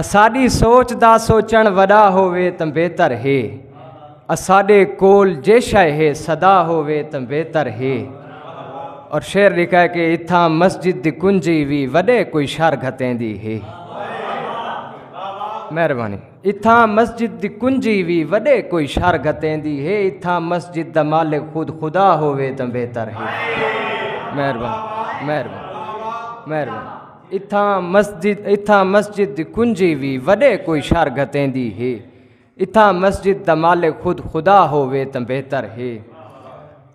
اساڈی سوچ دا سوچن وڈا ہووے تاں بہتر ہے اساڈے کول جے شے ہے صدا ہووے تاں بہتر ہے اور شعر لکھا ہے کہ اتھا مسجد دی کنجی وی وڈے کوئی شر گھتیں دی ہے مہربانی اتھا مسجد دی کنجی وی وڈے کوئی شر گھتیں دی ہے اتھا مسجد دا مالک خود خدا ہووے تاں بہتر ہے مہربانی مہربانی مہربانی اتھاں مسجد اتھاں مسجد دی کنجی وی وڈے کوئی شر گھتیندی ہے اتھاں مسجد دا مالک خود خدا ہووے تاں بہتر ہے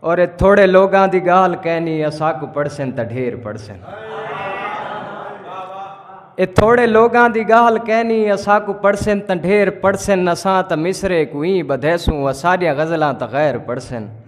اور تھوڑے لوگاں دی گال کہنی اساکو پڑھسن تاں ڈھیر پڑھسن اے تھوڑے لوگاں دی گال کہنی اساکو پڑھسن تاں ڈھیر پڑھسن اساں تاں مصرے کو ایں بدھیسوں اساڈیاں غزلاں تاں غیر پڑھسن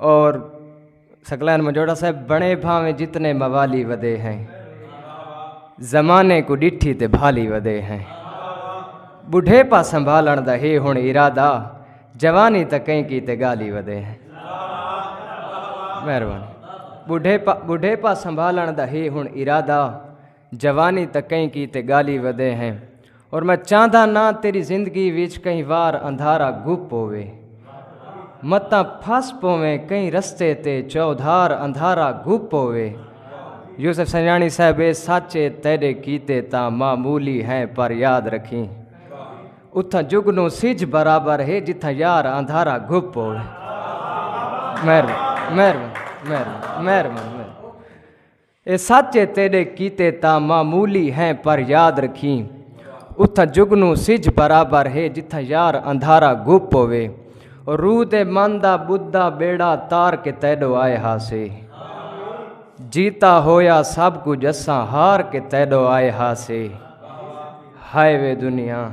اور سکلین مجوڑا صاحب بنے بھاویں جتنے موالی ودے ہیں زمانے کو ڈٹھی تے بھالی ودے ہیں بڑھے پا سنبھالن دا ہے ہن ارادہ جوانی تا کہیں کی تے گالی ودے ہیں مہربانی بڑھے پا بڑھے پا سنبھالن دا ہے ہن ارادہ جوانی تاں کہیں کیتے گالی ودے ہیں اور میں چاہندہ نہ تیری زندگی وچ کہیں وار اندھارا گپ پوے متاں پھس پویں کہیں رستے تے چودھار اندھارا گپ پوے یوسف سنجانی صاحب اے سچے تیرے کیتے تاں معمولی ہیں پر یاد رکھیں اتھاں جگنو سج برابر ہے جتھاں یار اندھارا گپ پوے مہربان مہربان مہربان مہربان اے سچ اے تیڈے کیتے تاں معمولی ہیں پر یاد رکھیں اتھاں جگنوں سجھ برابر ہے جتھاں یار اندھارا گپ ہووے او روح دے من دا بدھا بیڑا تار کے تیڈو آئے ہاسے جیتا ہویا سب کجھ اساں ہار کے تیڈو آئے ہاسے ہائے وے دنیا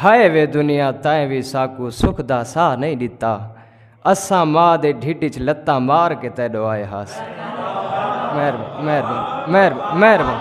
ہائے وے دنیا تیں وی ساکوں سکھ دا ساہ نئیں ݙتا اساں ماء دے ڈھڈ وچ لتاں مار کے تیݙو آئے ہاس مہربان مہربان مہربان مہربان